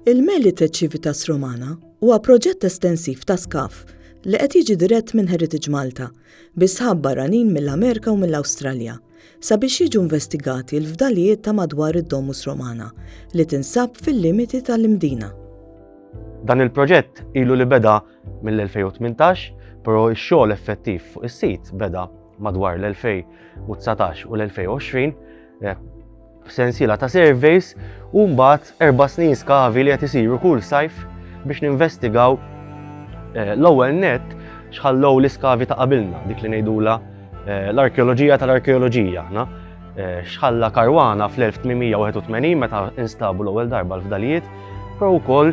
Il-Melite Civitas Romana huwa proġett estensiv ta' skaf li qed jiġi dirett minn Heritage Malta bi sħab barranin mill-Amerika u mill-Awstralja sabiex jiġu investigati l-fdalijiet ta' madwar id-Domus Romana li tinsab fil-limiti tal-Imdina. Dan il-proġett ilu li beda mill-2018, però x-xogħol effettiv fuq is-sit beda madwar l-2019 u l-2020 eh, sensiela ta' surveys u mbagħad erba' snin skavi li qed isiru kull sajf biex ninvestigaw eh, l-ewwel net xħallow l-iskavi ta' qabilna, dik li ngħidula eh, l-arkeoloġija tal-arkeoloġija. Eh, xħalla Karwana fl-1881 meta instabu l-ewwel darba l-fdalijiet, pro wkoll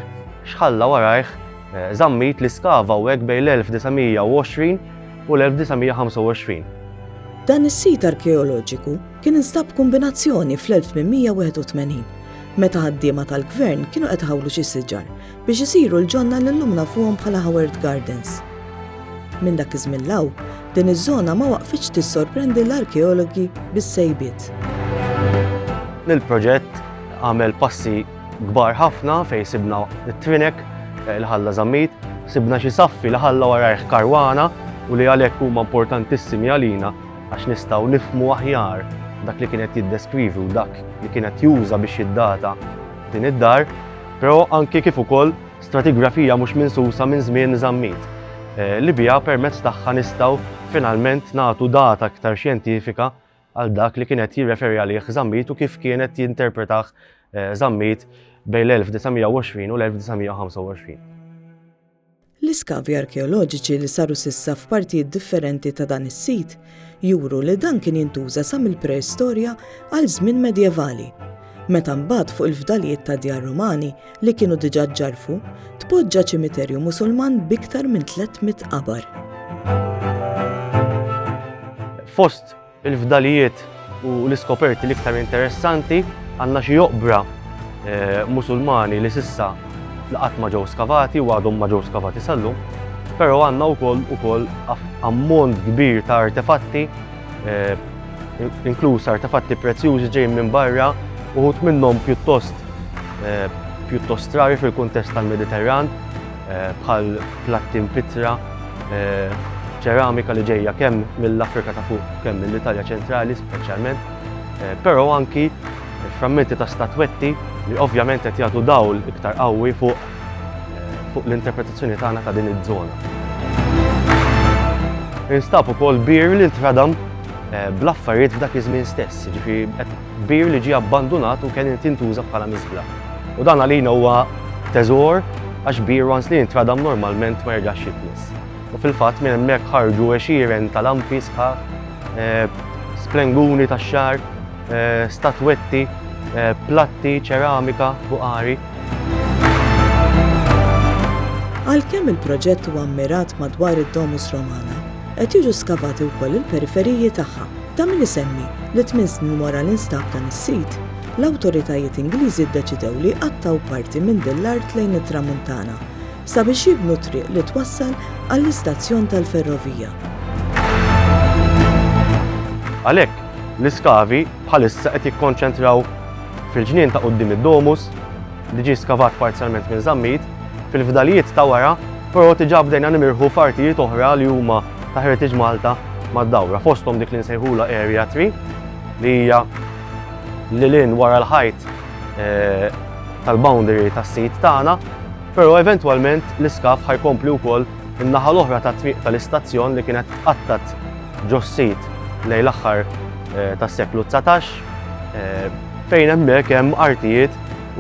xħalla warajh eh, zammit li skava u hekk bejn l-1920 u l-1925. Dan is-sit arkeoloġiku kien instab kombinazzjoni fl-1881 meta ħaddiema tal-gvern kienu qed ħawlu xi siġar biex isiru l-ġonna li llum nafuhom bħala Howard Gardens. Minn dak iż-żmien 'l hawn, din iż-żona ma waqfitx tissorprendi l-arkeologi bis-sejbiet. Il-proġett għamel passi kbar ħafna fejn sibna t-trinek eh, li ħalla żammit, sibna xi saffi li ħalla warajh karwana u li għalhekk huma importantissimi għalina għax nistgħu nifmu aħjar dak li kienet jiddeskrivi u dak li kienet juża biex jiddata din id-dar però anki kif ukoll stratigrafija mhux minsusa minn żmien Żammit, eh, li biha permezz tagħha nistgħu finalment nagħtu data aktar xjentifika għal dak li kienet jirreferi għalih Żammit u kif kienet jinterpretah Żammit eh, bejn l-1920 u l-1925. L-iskavi arkeoloġiċi li saru s'issa f'partijiet differenti ta' dan is-sit juru li dan kien jintuża sa mill-preistorja għal żmien medjevali, meta mbagħad fuq il-fdalijiet ta' djar Rumani li kienu diġà ġġarrfu tpoġġa ċimiterju Musulman b'iktar minn 300 qabar. Fost Il-fdalijiet u l-iskoperti l-iktar interessanti għandna xi oqbra eh, Musulmani li sissa qatt ma ġew skavati u għadhom ma ġew skavati sal-lum, però għandna wkoll ukoll ammont kbir ta' artefatti, eh, inkluż artefatti prezzjużi ġejjin minn barra, uħut minnhom pjuttost eh, pjuttost strari fil-kuntest tal-Mediterran, bħal platti mpittra, ċeramika li ġejja kemm mill-Afrika ta' fuq, kemm mill-Italja ċentrali speċjalment, eh, però anki frammenti ta' statwetti li ovvjament qed jagħtu dawl iktar qawwi fuq eh, fuq l-interpretazzjoni tagħna ta' din iż-żona. Instab ukoll bir li ntradam eh, bl-affarijiet f'dak iż-żmien stess, ġifi qed kbir li ġie abbandunat u kien irid jintuża bħala miżbla. U dan għalina huwa teżor għax bir once li jintradam normalment ma jerġax jitnies. U fil-fatt minn hemmhekk ħarġu għexieren ta' lampi sħaħ, eh, splenguni tax-xar, eh, statwetti, eh, platti, ċeramika, buqari. Għalkemm il-proġett huwa mmirat madwar id-Domus Romana, qed jiġu skavati wkoll il-periferiji tagħha. Ta' min isemmi li tmien snin wara l-instab ta' nis-sit, l-awtoritajiet Ingliżi ddeċidew li jqattgħu parti minn din l-art lejn it-Tramuntana sabiex jibnu triq li twassal għall-istazzjon tal-ferrovija. Għalhekk, l-iskavi bħalissa qed jikkonċentraw fil-ġnien ta' quddiem id-Domus, li ġie skavat parzjalment minn Zammit, fil-fdalijiet ta' wara, però diġà bdejna nimirħu f'artijiet oħra li huma ta' Heritage Malta mad-dawra, fosthom dik li nsejħulha Area 3 li hija lil hinn wara l-ħajt tal-boundary tas-sit tagħna, però eventwalment l-iskav ħa jkompli wkoll in-naħa l-oħra tat-Triq tal-Istazzjon li kienet tqattgħet ġos-sit lejn l-aħħar tas-seklu dsatax. Fejn hemmhekk hemm artijiet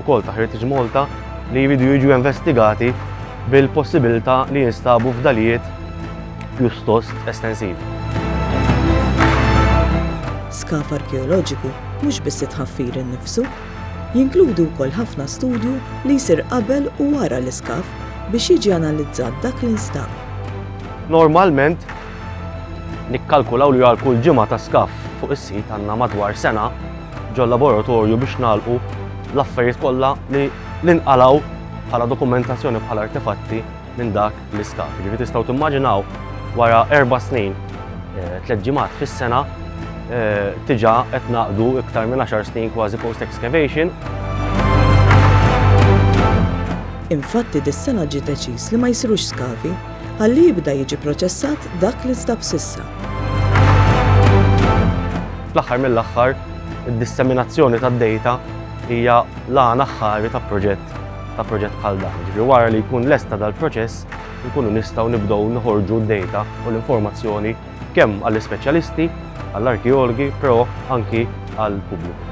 ukoll ta' Heritage Malta li jridu jiġu investigati bil-possibilità li jinstabu fdalijiet pjustost estensivi. Skaf arkeoloġiku mhux biss it-tħaffir innifsu, jinkludi wkoll ħafna studju li jsir qabel u wara l-iskaf biex jiġi analizzat dak li nstab. Normalment, Nikkalkulaw li għal kull ġimgħa ta' skaff fuq is-sit għandna madwar sena ġol-laboratorju biex nagħlqu l-affarijiet kollha li nqalgħu bħala dokumentazzjoni bħala artefatti minn dak l-iskaff. Ġifieri tistgħu timmaġinaw wara erba' snin eh, tliet ġimgħat fis-sena eh, tiġa qed naqdu iktar minn 10 snin kważi post excavation. Infatti dis-sena ġie deċiż li ma jsirux skavi ħalli jibda jiġi proċessat dak li nstab s'issa. Fl-aħħar mill-aħħar, id-disseminazzjoni tad-dejta hija l-għan aħħari ta' proġett ta' proġett bħal dan. Ġifri wara li jkun lesta dal-proċess, nkunu nistgħu nibdew noħorġu d-data u l-informazzjoni kemm għall-ispeċjalisti, għall-arkeologi, però anki għall-pubbliku.